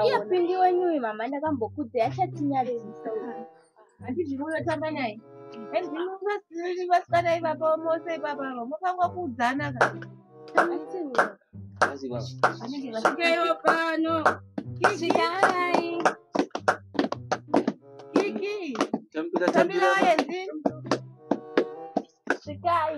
Iya pindi wenyu uyu mama ndakambokudze achatinyarisa. Handiti unotamba naye? Handiti vasikana ivapa mose ipapa ava mofangwa kuudzana ka. Svikeyo pano. Svikai. Kiki. Tambira tambira. Svikai.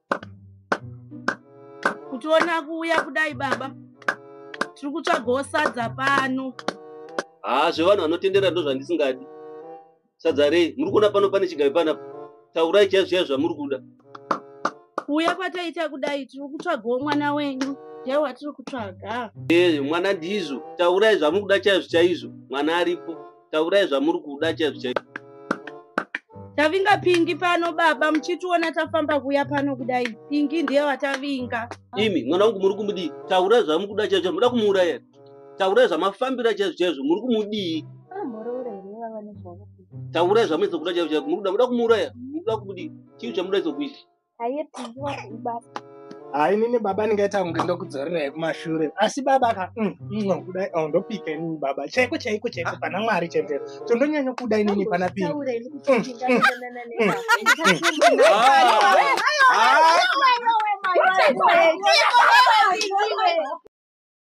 kutiona kuuya kudai baba tiri kutsvagawo sadza pano haa zvevanhu vanotendera ndo zvandisingadi sadza rei muri kuona pano pane chigavi panapa taurai chaivo zviya zvamuri kuda kuuya kwataita kudai tiri kutsvagawo mwana wenyu ndiye watiri kutsvaga ee mwana ndizvo taurai zvamuri kuda chaizvo chaizvo mwana aripo taurai zvamuri kuda chaizvo chaizvo tavinga pingi pano baba muchitiona tafamba kuya pano kudai pingi ndiye watavinga imi mwana wangu muri kumudii taura zvamuri kuda chaizvo muda kumuuraya taura zvamafambira chaizvo chaizvo muri kumudii taura zvamuisa kuda chaizvo chaizvo muri kuda muda kumuuraya muda kumudii chii chamuda izokuita haipindiwa kuibasa hayi nini baba ndingaita kunge ndokudzorerai kumashure asi baba ka mm, mm, kudai oh, ndopika inini baba chaiko chaiko chaiko pana mwari chendero tondonyanya kuda inini pana pingi